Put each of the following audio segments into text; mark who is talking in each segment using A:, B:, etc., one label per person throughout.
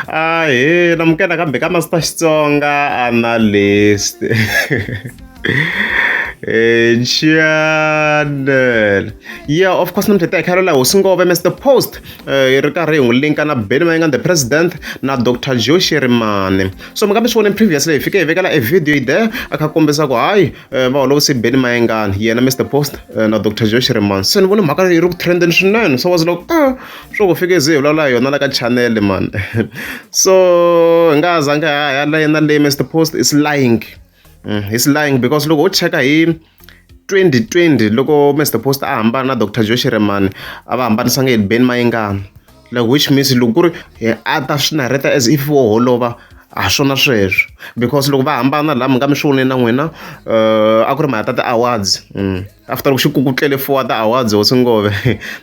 A: Ahee namukela kambe ka Master Xitsonga Analyst channel yeah of course namuntlha ta hi khayelo laha hosi ngove mr post eh, yi ri karhi hi n'wi linka na beni mayinga the president na dr joe sherimane so mi nga mi swi vona previously hi fike hi vekela e video yi there a kha kombisa ku hayi Eh, va holovise beni mayengani yena mr post eh, na dr josh reman se ni vone mhaka yi ri ku trenden swinene so was loko a ah, swo ku fike ze hi vulavula yona la ka chanele mani so hi nga zange ha ya la yena leyi mr post is lying mm, is lying because loko u cheka hi 2020 loko mr post a hambana na dr josh reman a va hambanisanga hi beni mayengani like which means loko ku ri hi a ta swi narheta as if wo holova a swona sweswo because loko va hambana laha mi nga mi swi voneni na n'wina uh, a ku ri mhaka ta ti-awards mm. after loko xi kukutlele four wa ti-awards hosi ngove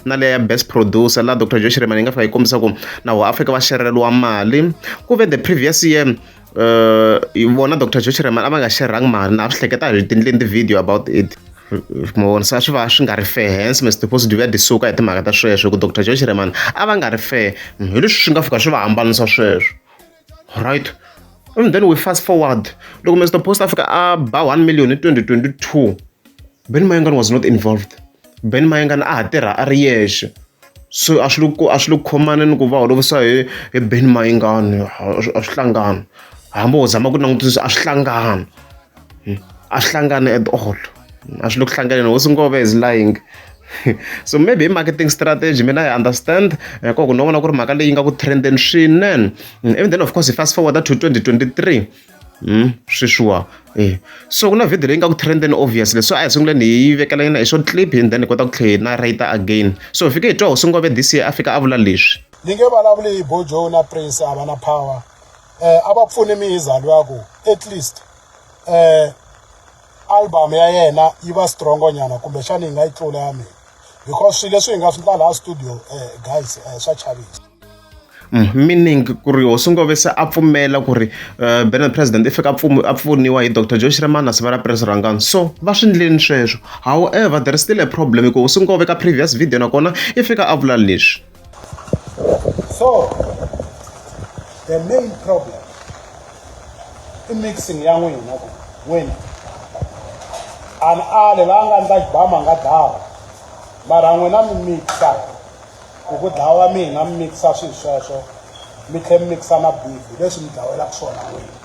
A: na leya ya best producer laha dr josh remani yi nga fika yi kombisa ku na ho afrika va xereleriwa mali ku ve the previous year vona doctor Joe Shireman a va nga share-angi mali na swi hleketa hi tindleni ti-video about it mi vona se swi va swi nga ri fair hence Mister Tifosi Duve a disuka hi timhaka ta sweswo hi ku doctor Joe Shireman a va nga ri fair hi leswi swi nga fika swi va hambanisa sweswo right and then we fast forward loko Mister Post a fika a ba one million hi twenty twenty two. Benny Mayengani was not involved. Benny Mayengani a ha tirha a ri yexe. So a swi le ku a swi le ku khomana ni ku va holovisa hi hi Benny Mayengani a swi a swi hlangani. Hambi ho zama ku langutisa a swi hlangani. A swi hlangani at all. A swi le ku hlanganeni, hosi Ngove is lying. So maybe hi marketing strategy mina I understand hi koho ku ni vona ku ri mhaka leyi nga ku trend-eni swinene. Ivi then of course hi fast forward-a to twenty twenty three. sweswiwa e so ku na video leyi nga ku trend and obvious leswi a hi sunguleni hi yi vekela yona hi short clip and then hi kota ku tlhela hi na right again so hi fike hi twa hosi ngove this year a fika a vula leswi ni nge vulavuli hi
B: bojo na prince a va na power eh a va pfuni mi hi zalo ya ku at least eh album ya yena yi va strongo nyana kumbe xana yi nga yi tlula ya mina because swilo leswi hi nga swi ndla laha studio eh guys eh swa chavisa Mm,
A: meaning ku ri hosi ngove se a pfumela ku ri uh, benard president i fika a pfuniwa hi dr joe shiremana sivara pres rangani so va swi ndleni sweswo however there is still a problem hikuva hosi ngove ka previous video nakona i fika a vula leswi
B: so the main problem i mixing ya n'wina ku n'wina an ale la nga ndza bama nga dava mara n'wina mi mixa hi ku dlawa mina
A: mi mikisa swilo sweswo mi tlhe mi mikisa na bibi leswi mi dlawelaka swona n'wini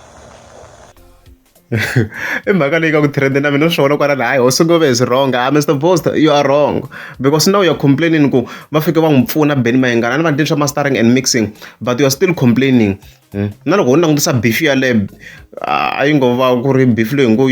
A: i mhaka leyi ka ku trend na mina swona kwala laha hayi hosi ngove is wrong ah mr bost you are wrong because now you're complaining ku va fike va n'wi pfuna beni mayengana ni vandleni swa mastering and mixing but you're still complaining hmm? na loko u langutisa beef yaleyo a yi ngo va ku ri beef leyi ngo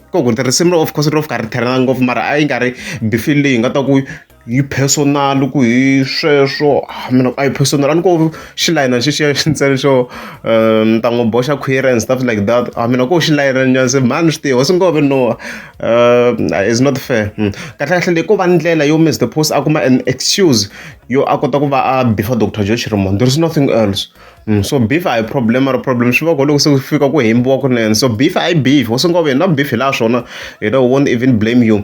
A: ko ku tirhisimu of course ro fika ri therana ngopfu mara a yi nga ri beef leyi nga ta ku yi personal ku hi sweswo mina a yi personal a ni ko xilayina xexiya xi ntsena xo um ni ta n'wi boxa khwiri and stuff like that a mina ko xilayina nyana se mhani swi tiva singove no um is not fair hmm. kahle kahle leyi ko va ndlela yo mister post a kuma an excuse yo a kota ku va a bifa doctor joe chirimondo there is nothing else so beef a hi problem mara problem swi va ko loko se ku fika ku hembiwa kunene so beef a yi beef wo sungula ku yena na beef hi laha swona you know won't even blame you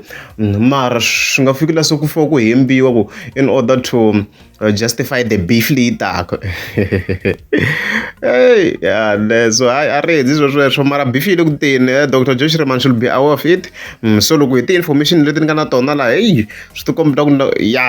A: mara swi nga fiki laha se ku fika ku hembiwa ku in order to uh, justify the beef leyi taka hey yeah, so hayi a ri hedzi swo sweswo mara beef yi le ku teni eh, dr josh reman should be aware of it mm, so loko hi ti-information leti ni nga na tona laha heyi swi ti kombeta ku ya